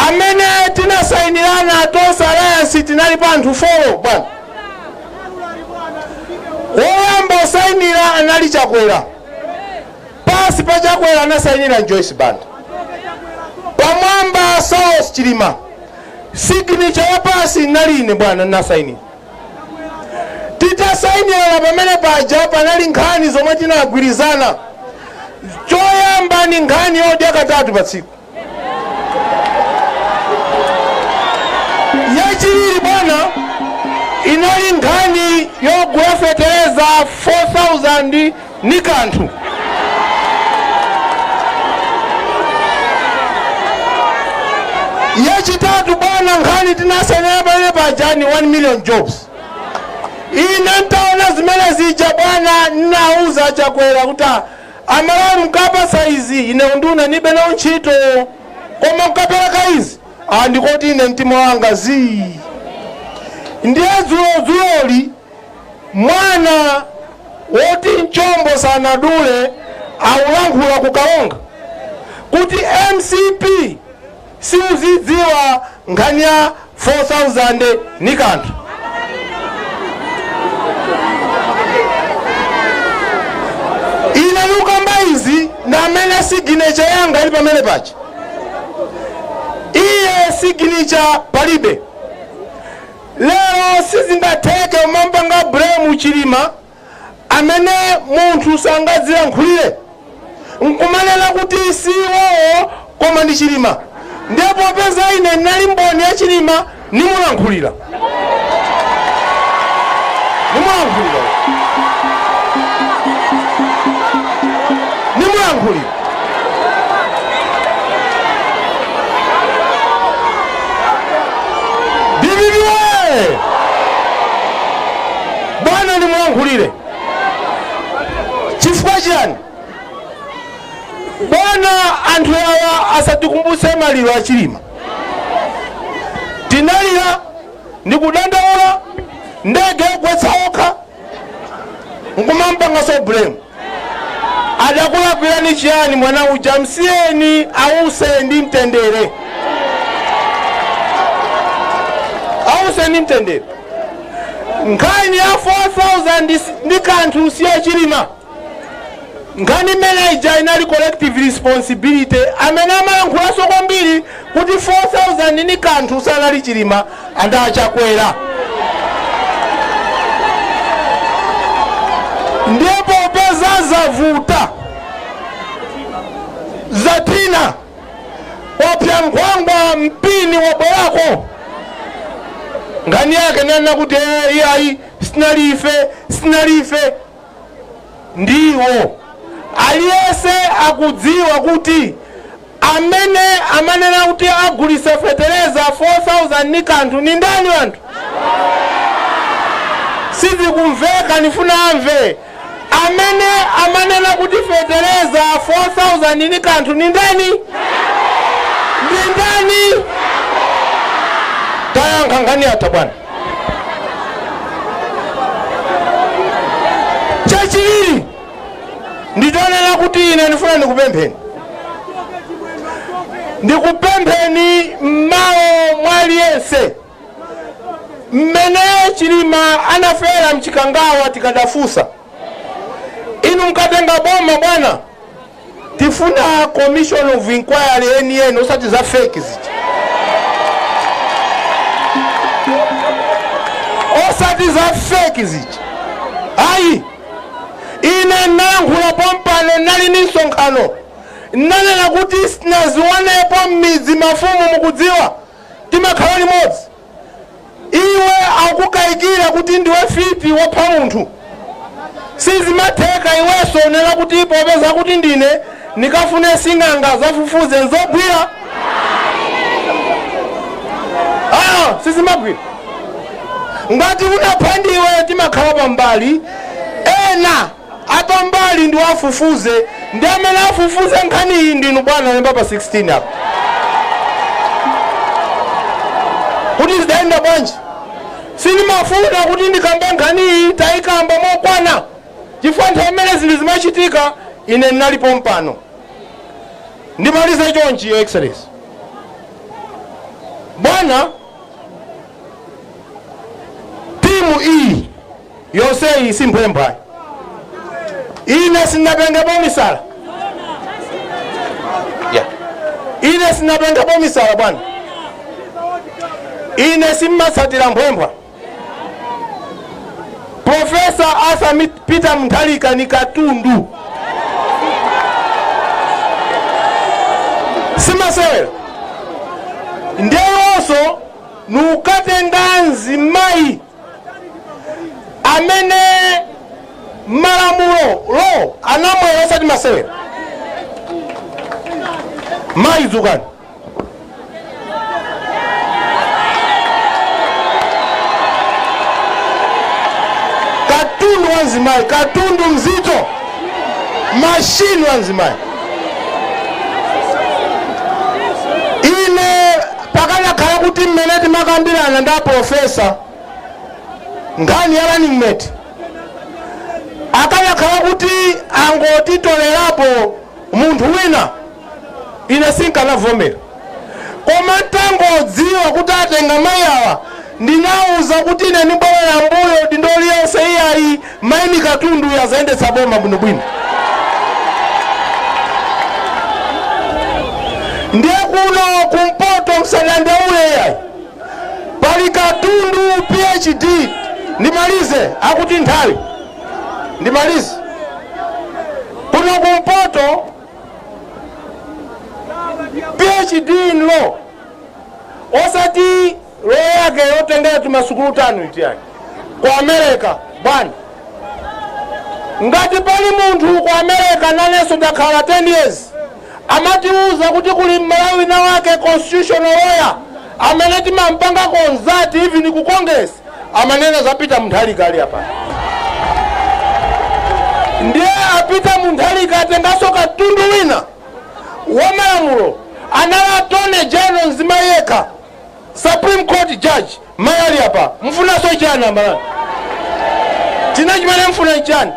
Amene tinasainirana a Tonse Alliance tinalipo anthu 4 bwana. Woyamba osainira anali Chakwera, pansi pa Chakwera anasainira Joyce Banda, pamwamba Saulos Chilima, signature ya pansi inali ine bwana, nasainira. Titasainirana pamene paja panali nkhani zomwe tinagwirizana. Choyamba ni nkhani yodya katatu pa tsiku. Yachiwiri bwana inali nkhani yogula fetereza 4,000. ni kanthu. Yachitatu bwana, nkhani tinasainira pamene paja ni 1 million jobs. Ine ntaona zimene zija bwana, ninauza Chakwera kuti "Ah, Amalawi mkapasa izi ine unduna nibe nawo ntchito koma mkapereka izi andikoti ine mtima wanga zii ndiye dzulo dzuloli Mwana woti mchombo sanadule akulankhula ku Karonga kuti MCP siuzidziwa nkhani ya 4000 ni kanthu. Ine nikukamba izi namene signature yanga ili pamene paja iye signature palibe. Lero sizingatheke kumampanga blame Chilima amene munthu sangadzilankhulire nkumanena kuti si iwowo koma ndi Chilima ndiye popeza ine nali mboni ya Chilima ndimulankhulira. Ndimulankhulira. Ndimulankhulira. DPP oye! Bwana nimulankhulire chifukwa chiyani? Bwana, anthu awa asatikumbutse maliro a Chilima. Tinalira ndikudandaula ndege yogwetsa okha nkumampangaso blame adakulakwirani chiyani mwana uja msiyeni ause ndi mtendere ause ndi mtendere nkhani ya 4000 ndi kanthu si ya Chilima Nkhani imene ija inali collective responsibility, amene amalankhulaso kwambiri kuti 4000 ni kanthu sanali chilima and a chakwera. Ndiye popeza zavuta zathina wapsa nkhwangwa mpini wabwereka nkhani yake akunena kuti "Eh, iyayi sinali ife sinali ife ndiwo. Aliyense akudziwa kuti amene amanena kuti agulitsa fetereza 4000 ni kanthu ni ndani anthu? Sizikumveka nifuna amve. Amene amanena kuti fetereza 4000 ni kanthu ni ndani? Ni ndani? Tayankha nkhani yatha bwana. Chachiwiri, nditonena kuti ine ndifuna ndikupempheni, ndikupempheni m'malo mwa aliyense. Mmene Chilima anafera mchikangawa tikadafunsa, inu mkatenga boma bwana. Tifuna commission of inquiry yeni yeni osati za fake zija. Osati za fake zija. Ayi. Ine nalankhula pompano nali ni msonkhano. Nanena kuti sinaziwonepo m'midzi mafumu mukudziwa. Timakhala limodzi. Iwe akukaikira kuti ndiwe fiti wopha munthu sizimatheka iwenso n'kunena kuti popeza kuti ndine ndikafune sing'anga azafufuze nzogwira, sizimagwira ngati unapha ndiwe timakhala pambali ena apambali ndi wofufuza ndiye amene afufuze nkhaniyi ndinu bwana mukapambana pa 16 apo kuti zidayenda bwanji sindimafuna kuti ndikambe nkhaniyi tayikamba mokwana chifukwa nthawi imene zinthu zimachitika ine ndinalipo pompano ndimalize chonchi your excellency bwana timu iyi Yonseyi si mphwephwa. Ine sindinapengepo misala. Ine sindinapengepo misala bwana. Ine simmatsatira mphwephwa. Profesa Arthur Peter Mutharika ni katundu. Simasewera. Ndeyonso nukatenga nzimayi amene malamulo lo anamwera, osati masewera mayi dzukani, katundu wa mzimayi katundu mzito, mashini wa mzimayi ine Pakanakhala kuti mmene timakambirana ndi a Pulofesa nkhani ya running mate akanakhala kuti angotitolerapo munthu wina, ine sinkanavomera. Koma n'tangodziwa kuti atenga mayi awa, ndinawauza kuti ine ndibwerera m'mbuyo, udindo uliwonse iyayi. Mayi ndi katundu uyu azayendetsa boma bwinobwino. Ndiye kuno kumpoto msadandaule yayi pali katundu phd ndimalize akuti nthawi ndimalize kuno kumpoto phd in law osati Law yake yotengera tumasukulu tanu iti iyayi? Ku America bwana. Ngati pali munthu ku America nanenso ndakhala 10 years amatiuza kuti kuli Mmalawi wina wake constitutional lawyer amene timampanga consult even ku congress amanena za Peter Mutharika ali apa ndiye a Peter Mutharika atenganso katundu wina wa malamulo anali Attorney General mzimayi yekha Supreme court judge mayi ali apa mufunaso chani a Malawi china chimene mfuna nchani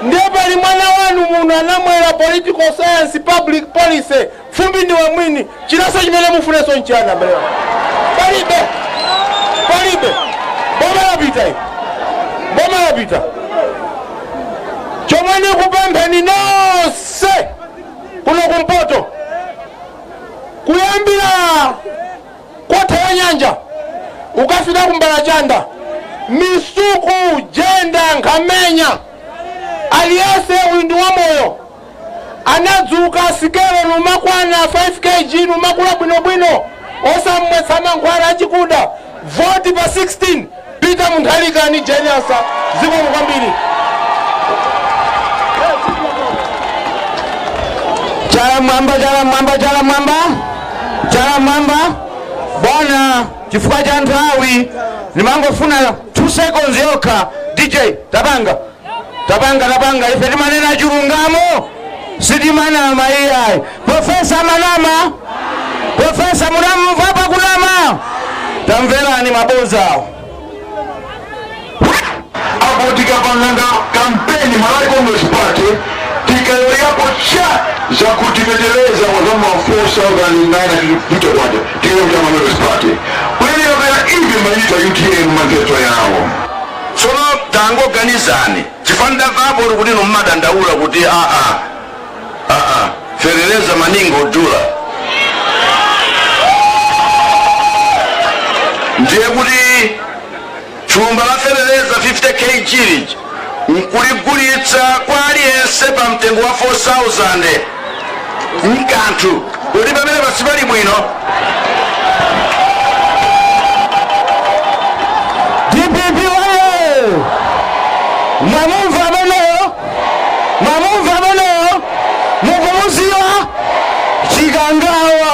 ndiye pali mwana wanu muno anamwera political science public policy fumbi ndiwe mwini, chinaso chimene mufunaso nchani abale palibe palibe boma lapita iyi boma lapita chomwe ndikupempheni nonse kuno kumpoto Kuyambira ku Kanthu wa Nyanja kukafika ku Mbalachanda, Misuku, Jenda, Nkhamenya, aliyense uyo ndi wamoyo anadzuka sikelo numakwana 5 kg numakula bwinobwino osamwetsa mankhwala achikuda vote pa 16 Peter Mutharika ndi Jane Ansah zikomo kwambiri. Chala m'mwamba, chala m'mwamba, chala m'mwamba, chala m'mwamba. Bwana, chifukwa cha nthawi ndimangofuna 2 seconds yokha. DJ tapanga tapanga tapanga ife timanena chilungamo sitimanama iyayi profesa amanama profesa mwamumva pakunama tamverani mabodzawo apo tikapanganga kampeni malawi congress party tikaloyapo cha zakuti fetereza wazama 4900 kwacha tiyo cha malawi congress party kuyelera pera ivi mayita utm manifesto yawo Tsono tangoganizani chifukwa ndidamvapo tu kuti inu mumadandaula kuti aa aa ferereza ngodula ndiye kuti thumba la ferereza 50 kg lija nkuligulitsa kwa aliyense pa mtengo wa 4000 nkanthu kodi pamene pasipali bwino dpp woye mwamumva ameneyo mwamumva ameneyo mukumuziwa chikangawa